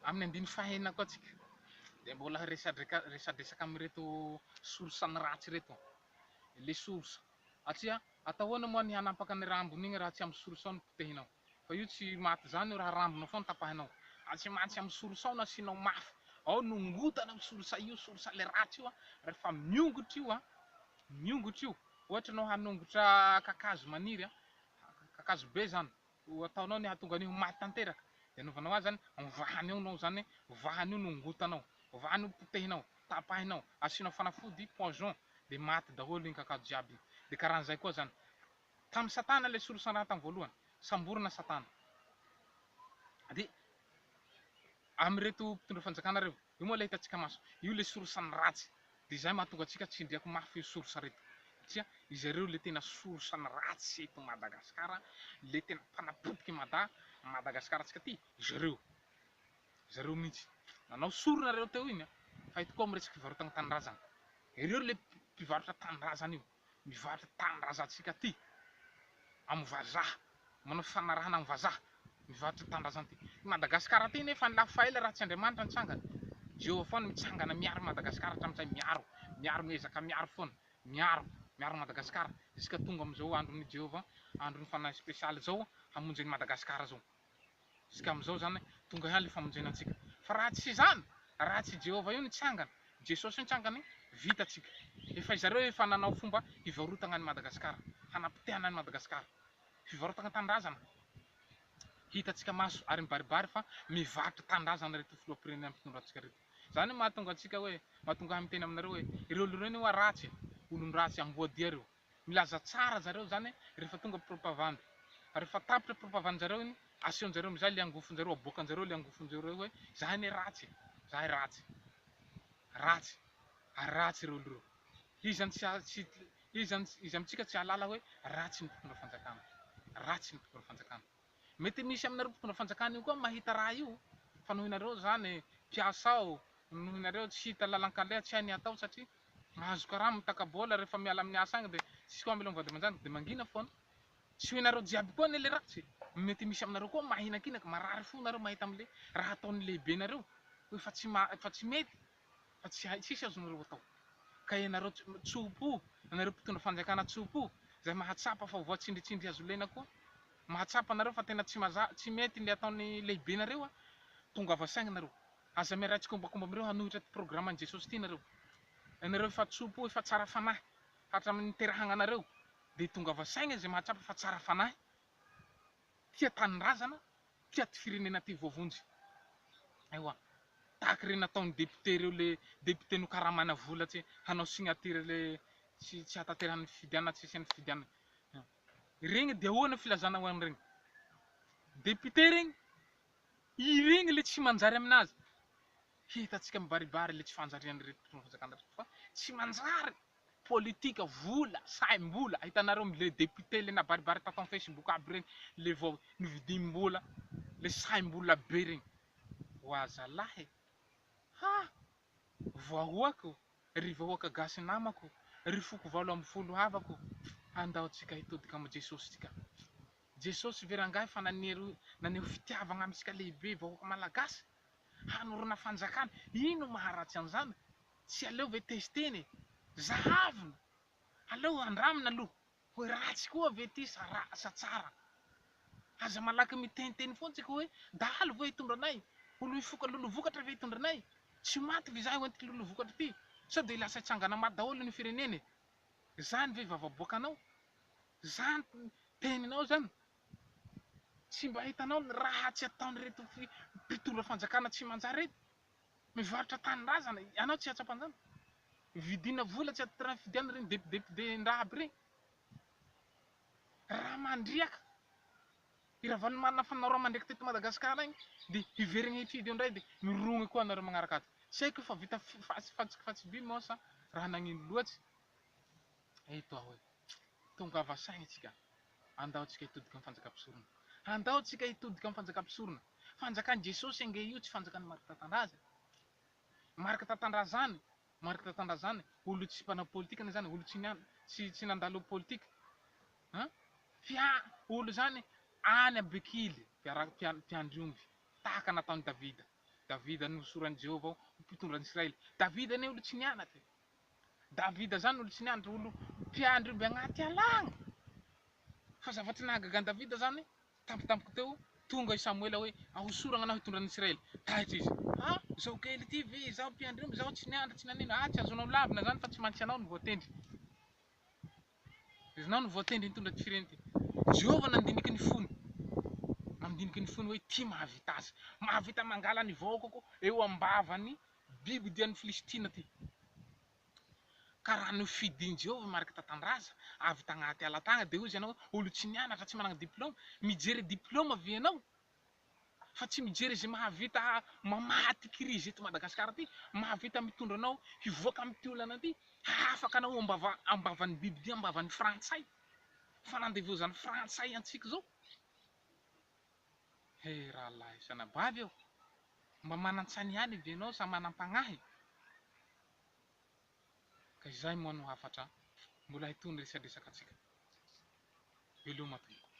Amin'ny andininy fahenina koa tsika dia mbola resadresaka amin'ireto source-ny ratsy ireto, le source satria atao ahoana moa ny hanampaka ny rambony iny raha tsy amin'ny source ao no potehinao, fa io tsy maty izany io raha rambonao foana tapahinao, ary tsy maintsy amin'ny source ao no asianao mafy, ao no ngotana io source io, source le ratsy io, rehefa miongotra io, miongotra io, ohatra ianao hanongotra kakazo maniry, kakazo be izany, Ho ataonao ny hahatonga an'io ho maty tanteraka, dia anaovanao azy izany, ovahany ao nao izany hoe, ovahany io no ongotanao, ovahany io potehinao, tapahinao, asianao fanafody, poison, dia maty daholo iny kakazo jiaby iny. Dia karan'izay koa izany. Tamin'i Satana ilay solosandraha tamin'ny voalohany. Samborina Satana. Dia amin'ireto mpitondra fanjakana ireo. Io moa ilay hitantsika maso, io ilay source ny ratsy, dia izay mahatonga antsika tsindriako mafy io source reto, satria izareo ilay tena source ny ratsy eto Madagascar, ilay tena mpanapotika i Mada, Madagascar antsika ity, izareo, izareo mihintsy, nanao sorona nareo teo iny an, fa eto koa miresaka fivarotana tanindrazana, ireo ilay mpivarotra tanindrazana io. Mivaly tanindrazantsika ty amin'ny vazaha, manao fifanarahana amin'ny vazaha, mivarotra tanindrazana ty. I Madagasikara ty nefa lafo faela raha tsy Andriamanitra nitsangana. Jehovah foana mitsangana miaro an'i Madagasikara hatramin'izay, miaro, miaro, miezaka miaro foana, miaro, miaro an'i Madagasikara, jusqu'à tonga amin'izao andron'i Jehovah, andron'ny fanahy spécial izao hamonjy an'i Madagasikara izao. Isika amin'izao izany tonga ihany ilay famonjena antsika. Fa raha tsy izany, raha tsy i Jehovah io nitsangana, Jesosy io nitsangana io, vita tsika. Efa izareo efa nanao fomba hivarotagna an'i Madagasikara, hanapotehana an'i Madagasikara. Fivarotagna tanindrazana. Hitatsika maso ary mibaribary fa mivarotra tanindrazana ireto filoham-pirenena mpitondra antsika ireto. Izany no mahatonga antsika hoe, mahatonga ahy miteny aminareo hoe, ireo olona ireo anie ho'a ratsy e, olon-dratsy, amboadia ireo. Milaza tsara zareo zany refa tonga propavandy fa refa tapitra propavandy zareo iny asehon jareo mizay le angofon jareo aboakan jareo le angofon jareo hoe zahay anie ratsy e zahay ratsy ratsy ary ratsy reo lro iza ny tsy iza ny iza amitsika tsy ahalala hoe ratsy ny mpitondra fanjakana ratsy ny mpitondra fanjakana. Mety misy aminareo mpitondra fanjakana io koa mahita raha io fa noho ianareo zany mpiasa ao noho ianareo tsy hita lalan-kaleha tsy hay ny hatao satria mahazo karama mitaka bola rehefa miala amin'ny asa agny dia tsisy koa amelao ny vady aman-janaka dia mangina foana tsy ho ianareo jiaby koa anie le ratsy mety misy aminareo koa mahinankinaka marary fo nareo mahita amle raha ataon'ny lehibenareo hoe fa tsy ma fa tsy mety fa tsy hay tsisy azonareo atao ka ianareo tsopo ianareo mpitondra fanjakana tsopo izay mahatsapa fa voatsindritsindry hazolena koa mahatsapa nareo fa tena tsy maza tsy mety le ataony lehibenareo a tongava saigny nareo aza miaraha tsikombakomba amireo hanohitra ty programme ny jesosy ty nareo ianareo efa tsopo efa tsara fanahy hatraminy niterahagna anareo de tongava saigny izay mahatsapa fa tsara fanahy tia tanindrazana, tia ty firenena ty voavonjy. Ewa. Tahaka ireny nataon'ny député ireo le député nokaramana vola tsy hanao signature le tsy tsy hahatanterahan'ny fifidianana tsy hisian'ny fifidianana. Iregny de ahoana filazana ho an'iregny député regny? Iregny le tsy manjary aminazy. Hitantsika mibaribary le tsy fanjarian'ireto mpitondra fanjakana reto fa tsy manjary. politika vola saim bola hitanareo le député le nabaribary tato am facebook aby regny le vao novidim bola le saim bola be regny oa zalah e ha vahoaka o ry vahoaka gasy namako ry foko valo amby folo havako andao tsika hitodika am jesosy tsika jesosy ve rangahy fa nanero naneho fitiavagna amitsika lehibe vahoaka malagasy hanorina fanjakana ino maharatsy anzany Tsy aleo ve testena e! Zahavina! Aleo andramina aloha hoe ratsy koa ve ity sa ratsy sa tsara. Aza malaky miteniteny foana tsika hoe dahalo ve hitondra anay? Ho lohifoka lolovokatra ve hitondra anay? Tsy ho maty ve izahay ho entiko lolovokatra ity? Sao dia lasa hitsangana maty daholo ny firenena e! Izany ve vavaboakanao? Izany teninao izany? Tsy mba hitanao ny ratsy ataon'ireto mpitondra fanjakana tsy manjary ireto? Mivarotra tanindrazana ianao tsy hatsapanjana. Vidina vola tsy atidrany fidiana reny depidepdendraha aby reny. Raha mandriaka i Ravalomanana fanao raha mandriaka teto Madagascar any dia hiverina hifidy eo indray dia mirogny koa anareo magnaraka azy. Tsy haiko io fa vita fatsifatsiby moa sa raha nagnino loatsy. Eto aho e! Tongava saina isika! Andao tsika hitodika amin'ny fanjakam-pisorona! Andao tsika hitodika amin'ny fanjakam-pisorona! Fanjakan'i Jesosy ange io tsy fanjakan'i Marc Tatandraza e! Marc Tatandrazany, Marc Tatandrazany, olo tsy mpanao politika izany, olo tsy nian, tsy tsy nandalo politika an! Fia, olo izany any Abekily, mpiara, mpian, mpiandry omby, tahaka nataon'i Davida. Davida nohosoran'i Jehovah ho mpitondra an'i Israely. Davida anie olo tsy nianatra e! Davida zany olo tsy niandry olo mpiandry omby agnaty ala agny fa zavatra nahagaga an'i Davida zany tampotampoky teo tonga i Samoela hoe ahosoragna anao hitondra an'Israely taitra izy ha zao kely ty ve izaho mpiandry omby zao tsy niandry tsy nanino ha tsy azonao lavina zany fa tsy maintsy anao no voatendry iznao no voatendry hitondra ty fireny ty Jehovah nandiniky ny fony nandiniky ny fony hoe ty mahavita azy mahavita mangala ny vahoakako eo ambavan'ny Biby odian'ny Filistina ty ka raha nofidin'i Jehovah mariky tatandraza avy tagnaty ala tagny dia hozy ianao hoe olo tsy nianatra, tsy managna diploma. Mijery diploma ve ianao fa tsy mijery izay mahavita mamaha ty kirizy eto Madagasikara ty, mahavita mitondra anao hivoaka amity olana ty, hahafaka anao ambava ambavan'ny biby ty, ambavan'ny frantsay, fanandevozan'ny frantsay antsika zao. He rahalahy sy anabavy ô! Mba manan-tsaina ihany ve ianao sa manam-pagnahy? Ka izay moa no hafatra mbola hitohy ny resadresakantsika. Veloma tompoko.